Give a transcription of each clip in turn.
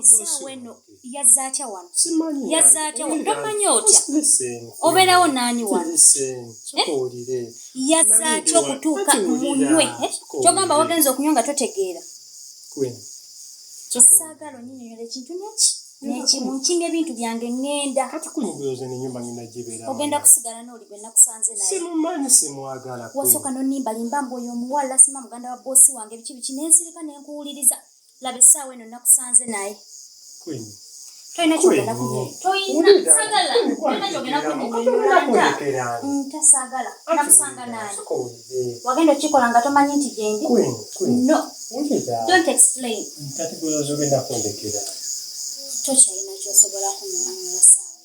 essaawa eno yazze atya wano yazze atya wano tomanya otya obeerawo naani wano eh? yazze atya okutuuka munywe eh? kyogamba wagenza okunywa nga totegeera esaagala onyinyonyola ekintu neki nekimu nkinga ebintu byange ŋŋenda kati kunyigulooza nenyumba ngenda gibeera ogenda kusigala n'oli gwe nakusanze naye simumanyi simwagala wasooka nonimbalimba mbu oyo omuwala sima muganda wa boosi wange biki biki nensirika nenkuwuliriza laba essaawa eno nakusanze naye tolina kyogenda kuntasaagala mm, nakusanga naye wagenda okikola nga tomanyi nti gyendi no don't explain tokyalina kyosobola kunyonyola saawa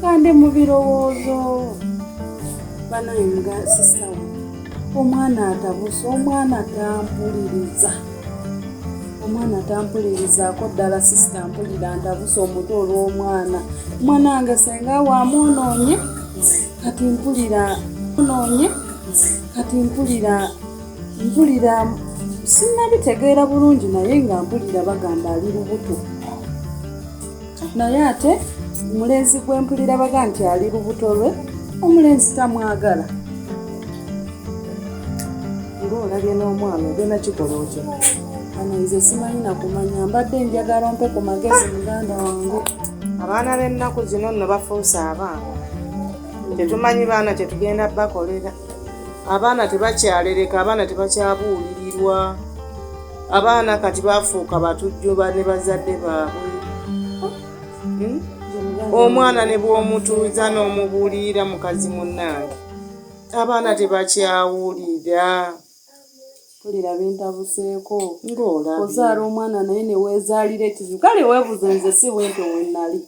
kande mu birowoozo banaye mga sisawa omwana atabuse omwana tampuliriza omwana tampulirizaako ddala sisita mpulira ntabuse omuto olw'omwana omwana wange senga wamwonoonye kati mpulira onoonye kati mpulira mpulira sinabitegeera bulungi naye nga mpulira bagamba ali lubuto naye ate omulenzi gwempulira baga nti ali lubuto lwe omulenzi tamwagala ngaolabye n'omwana ogenda kikola otya ano nze simanyi nakumanya mbadde njagala mpe ku magezi muganda wange abaana b'ennaku zino nno bafuuse abaana tetumanyi baana kyetugenda bakolera abaana tebakyalereka abaana tebakyabuulirirwa abaana kati bafuuka batujjuba ne bazadde baabwe hmm? omwana ne bw'omutuuza n'omubuulirira mukazi munnange abaana tebakyawulira tulira bintabuseeko ng'olaozaala omwana naye neweezaalira ekizibu kale weebuze nze si bwentyo wenali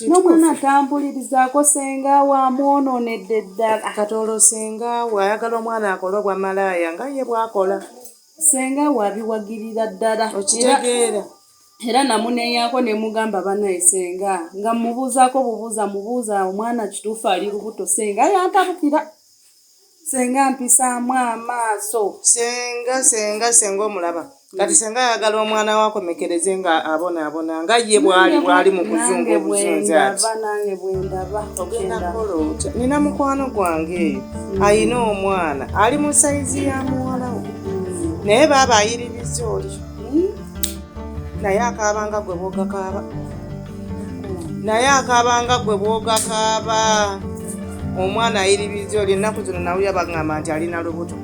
nomwana atambulirizaako senga we amwonoonedde ddala akatoolo senga we ayagala omwana akole obwa malaaya nga ye bwakola Ssenga we abiwagirira ddala era namuneeyaako ne mugamba banaye ssenga nga mmubuuzaako bubuuza mubuuza omwana kituufu ali lubuto ssenga yantabukira ssenga mpisaamu amaaso ssenga ssenga ssenga omulaba kati senga ayagala omwana we akomekereze nga abonaabona nga ye bwali bwali mu kuzunga obuzunzi ati nina mukwano gwange eyo alina omwana ali mu sayizi ya muwala we naye baaba ayiririza oli hmm? naye akaabanga gwe bwogakaaba naye akaabanga gwe bwogakaaba omwana ayiririza oli ennaku zino nawe yabagamba nti alina lubuto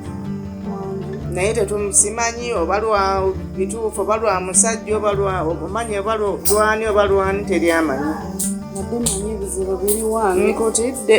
naye tetumusimanyi oba lwa bituufu oba lwa musajja oba lwa omanyi oba lwani oba lwani teryamanyi nkutidde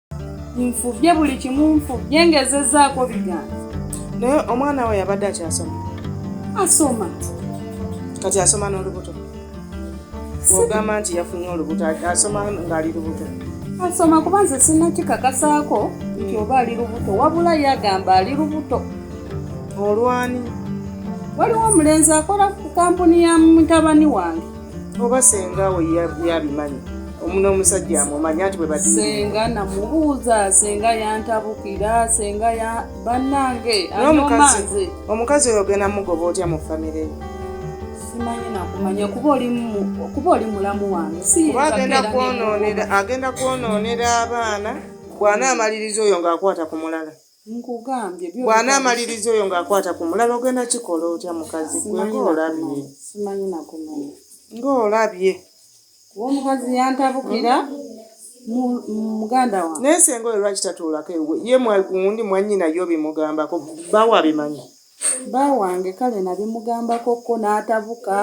nfubye buli kimu nfubye ngezezaako bigambo naye omwana we yabadde akyasoma asoma kati asoma n'olubuto ogamba nti yafunye olubuto asoma ng'ali lubuto asoma kuba nze sinakikakasaako nti oba ali lubuto wabula yagamba ali lubuto olwani waliwo omulenzi akola ku kampuni ya mutabani wange oba senga we yabimanyi omuno omusajja amumanyi ati bwe bati senga namubuuza senga yantabukira senga ya bannange anomanze omukazi oyo ogenda mugoba otya mu famire yo simanyi nakumanya kuba oli mulamu wange kuba agenda kwonoonera agenda kwonoonera abaana bw'anaamaliriza oyo ng'akwata ku mulala bw'anaamaliriza oyo ng'akwata ku mulala ogenda kikola otya mukazi gwe ng'olabye ng'olabye omukazi yantabukira muganda wange naye senga oyo lwaki tatuulako ewe ye mwagundi mwannyina yo bimugambako bawo abimanyi ba wange kale nabimugambako ko n'atabuka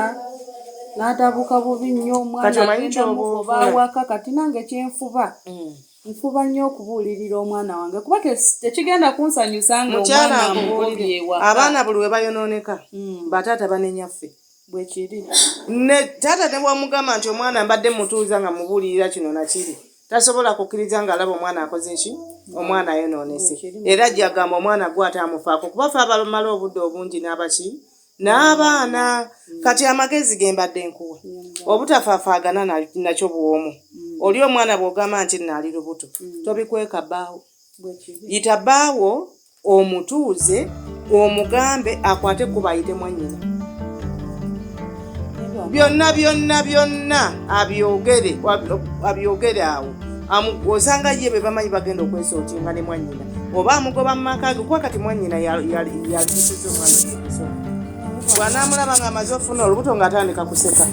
n'atabuka bubi nnyo omwana agenda mugoba awaka kati nange kyenfuba mm. nfuba nnyo okubuulirira omwana wange kuba tekigenda kunsanyusa ngaomwanamubuuliriewa abaana buli we bayonooneka hmm. bataata banenyaffe bwekiri ne taata ne bwamugamba nti omwana mbadde mutuuza nga mubuulirira kino nakiri tasobola kukkiriza ng'alaba omwana akoze ki omwana ayonoonese era jagamba omwana gwe ate amufaako kuba fe abamala obudde obungi n'abaki n'abaana mm. kati amagezi ge mbadde nkuwa mm. obutafafaagana nakyo bwomu mm. oli omwana bw'ogamba nti naali lubuto tobikweka bbaawo yita bbaawo omutuuze omugambe akwate kubayite mwanyina byonna byonna byonna abyogere abyogere awo osanga ye be bamanyi bagenda okwesootinga ne mwanyina oba amugoba mu maka ge kuba kati mwanyina yalisiza omwana ebiso bwanaamulaba nga amaze okufuna olubuto ng'atandika kuseka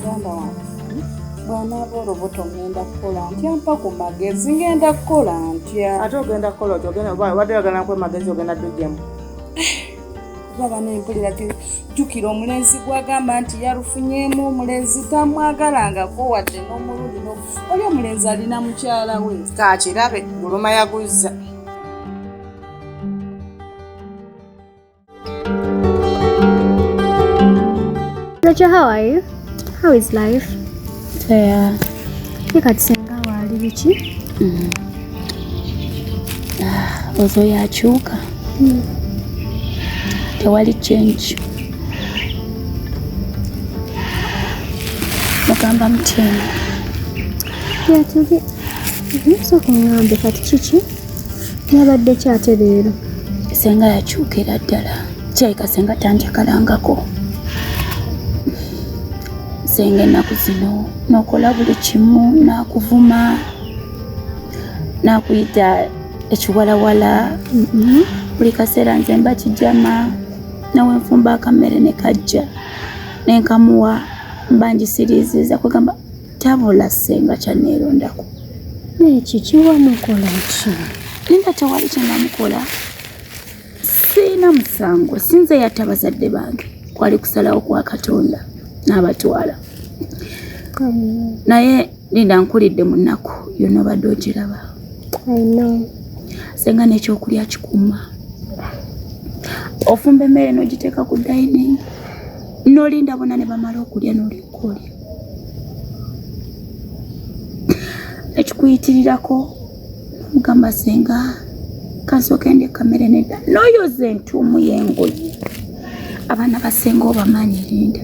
bwanaaba olubuto ngenda kukola ntya mpa ku magezi ngenda kukola ntya ate ogenda kukola oti obadde ogenda kukola magezi ogenda dujjamu kuba bana empulira jukira omulenzi gwagamba nti yalufunyemu omulenzi tamwagalangako wadde n'omulundi oli omulenzi alina mukyala we kakirabe guluma yaguzza Rachel, how are you? How is life? Fair. Ye kati senga waali biki? Mm. Ah, ozo yakyuka. Mm. Tewali change. Mugamba mutini. Yatuge. Mm-hmm. Sooka ng'ambe kati kiki? Nabadde ki ate leero? Senga yakyukira ddala. Kirabika senga tanjakalangako. Senga ennaku zino nokola buli kimu nakuvuma nakuyita ekiwalawala mm-hmm. buli kaseera nze mba kijama nawe nfumba akammere ne kajja nenkamuwa mba njisiriiziza kwegamba Tabula senga kyaneerondako neki kiwamukola ki ninga tewali kyenamukola siina musango sinze yatta bazadde bange kwali kusalawo kwa katonda n'abatwala naye linda nkulidde mu nnaku yona obadde ogiraba senga n'ekyokulya kikuuma ofumba emmere n'ogiteeka ku dining nolinda bona ne bamala okulya n'olinkolya ekikuyitirirako mugamba senga kansooka ende kamere nedda noyoza entuumu yengoye abaana basenga obamanyi linda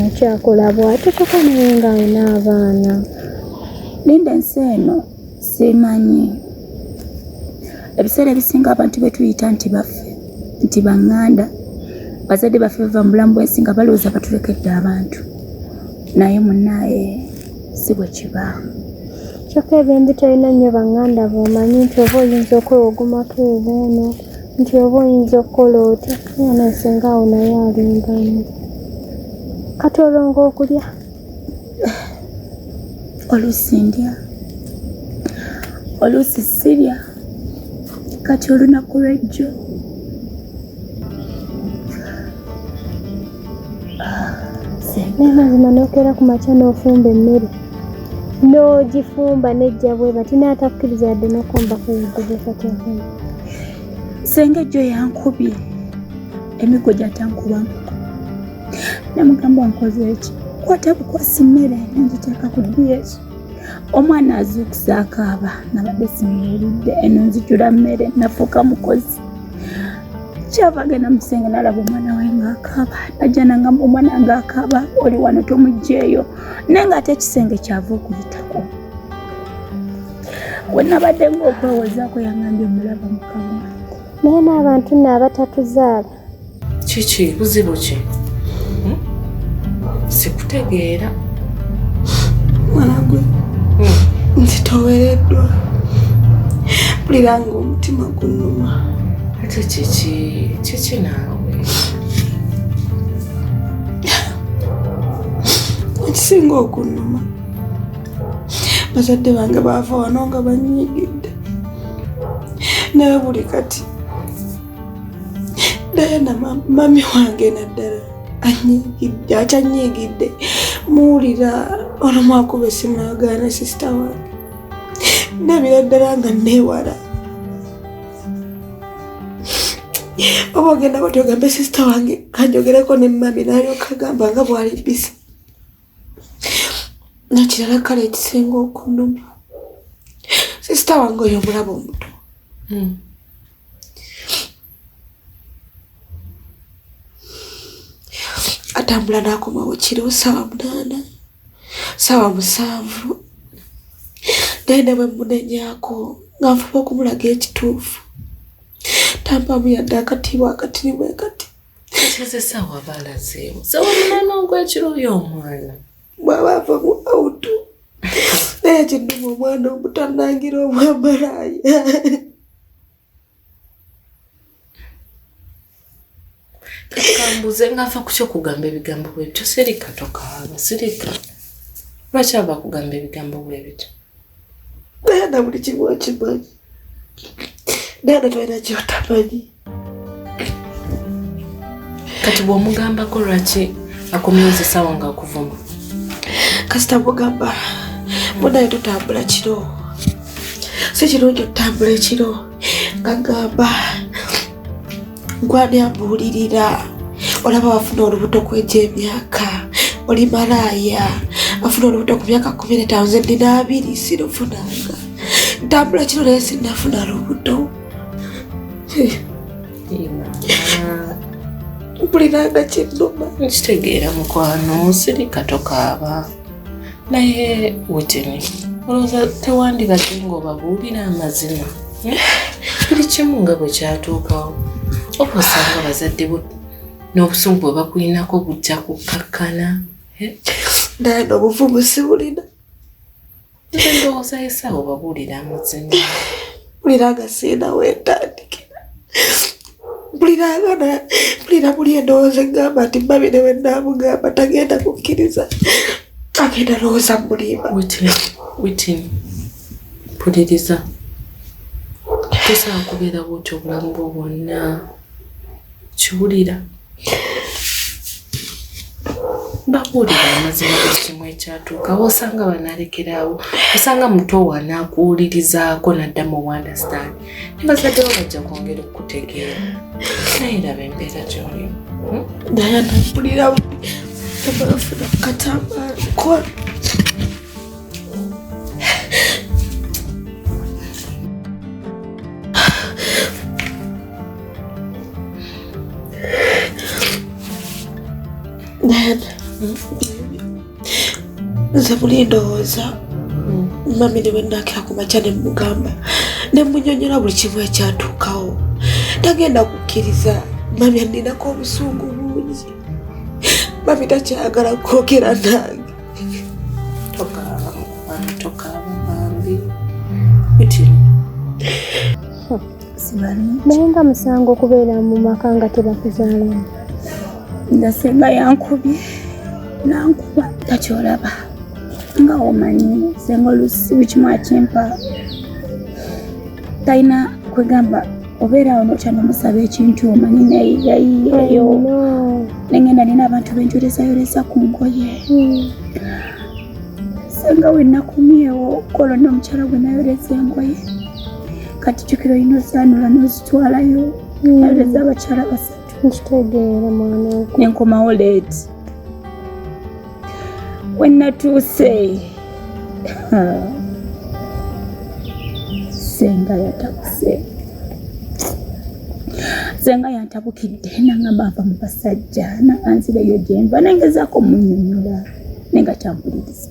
akyakola bwatyo tokonaye nga alina abaana linda ensi eno simanyi ebiseera ebisinga abantu betuyita nti baffe nti banganda bazadde baffe bava mu bulamu bwensi nga balowooza batulekedde abantu naye munaye si bwe kibaawo kyokka ebimbi tolina nnyo banganda bomanyi nti oba oyinza okwewogomako ebuuno nti oba oyinza okukola otya yona esinga awo naye alimbamu kati olonga okulya oluusi ndya oluusi sirya kati olunaku lwejjo mazima nokeera ku makya n'ofumba emmere n'ogifumba nejja bweba tinaatakkiriza yadde nokomba kuyidde bwekati enfumba senga ejjo yankubye emiggo gyatankubamu namugamba nkoze eki kwata kukwasi mmere nengiteeka ku diyeki omwana azuukusa akaaba nabadde simuwulidde eno nzijula mmere nafuuka mukozi kyava genda musenge nalaba omwana we ngaakaaba najja nangamba omwana ngaakaaba oli wano tomugjeeyo naye nga ate ekisenge kyava okuyitako wenabadde ngaokwewozaako yangambye omulaba mukama naye n'abantu nno abatatuzaala kiki buzibu ki hmm? sikutegeera mwanagwe hmm. nzitowereddwa mpulira nga omutima gunuma ate kiki kiki naawe ekisinga okunuma bazadde bange baava wano nga banyigidde naye buli kati dayana mami wange naddala anyigidde akyanyigidde muwulira ono mwakuba esimu agaana sisita wange ndabira ddala nga neewala oba ogenda bati ogambe sisita wange kanjogereko ne mami nalyoka agamba nga bwali bisi nakirala kale ekisinga okunuma sisita wange oyo omulaba omuto hmm. atambula nakomawo kiro saawa munaana saawa musanvu naye ne bwemunenyako nga nfuba okumulaga ekituufu tampamu yadde akatiibwa akatirimu ekati ekizesawa balazeemu sewamuna n'ogwekiro oyo omwana bwaba ava mu auto naye kinuma omwana omutanangira obwamalaaya kambuze ngava kutya okugamba ebigambo bwebityo sirika tokaaba sirika lwaki ava kugamba ebigambo bwebityo naye na buli kimu okimanyi Dada twalina kyotamanyi. Kati bw'omugambako lwaki akomyoza essaawa nga akuvuma? Kasita mugamba munaye tutambula kiro. Si kirungi okutambula ekiro nga gamba gwani ambuulirira olaba wafuna olubuto kwejo emyaka oli malaaya afuna olubuto ku myaka kumi netaano ze nina abiri sirufunanga ntambula kino naye sinafuna lubuto mpuliranga kinnuma nkitegeera mukwano sirika tokaaba naye witini olowooza tewandibadde ng'obabuulira amazima eh? buli kimu nga bwe kyatuukawo oba osanga abazadde bo n'obusungu bwe bakulinako bujja kukkakkana eh? naye n'obuvumu sibulina ndowooza yesawo babuulira amazima mpulira nga siina wentandikira mpulira nga mpulira muli endowooza egamba nti mbabi ne wennaamugamba tagenda kukkiriza agenda lowooza mulimba witin mpuliriza tosaa kubeera bwotyo obulamu bwo bwonna kiwulira babuulira amazima ekimu ekyatuukawo osanga banalekeraawo osanga muto wanaakuwulirizaako nadda mu understand nebazaddewo bajja kwongera okukutegeera naye laba embeera gyolimu hmm? dayana mpulira buli tebafuna katamba nkola nze muli ndowooza mami ne bwenakira ku makya ne mugamba ne munyonyola buli kimu ekyatuukawo tagenda kukkiriza mami aninako obusungu bungi mami takyagala kwogera nange tokaaba mukwano tokaaba bambi bitini naye nga musango okubeera mu maka nga tebakuzaalamu nga senga yankubye nankuba takyolaba nga omanyi senga olusi bukimu akimpa talina kwegamba obeera awo notya nomusaba ekintu omanyi nayeyayiyeyo nengenda nina abantu benjolezayoleza ku ngoye hmm. senga wenakumyewo kolo nomukyala gwe nayoleza engoye kati jukira olina ozanula nozitwalayo hmm. nayoleza abakyala basatu nenkomawo leeti wenatuuse senga yatabuse senga yantabukidde nangamba nva mu basajja nakanzireyo gyenva nengezaako munyonyola nenga tampuliriza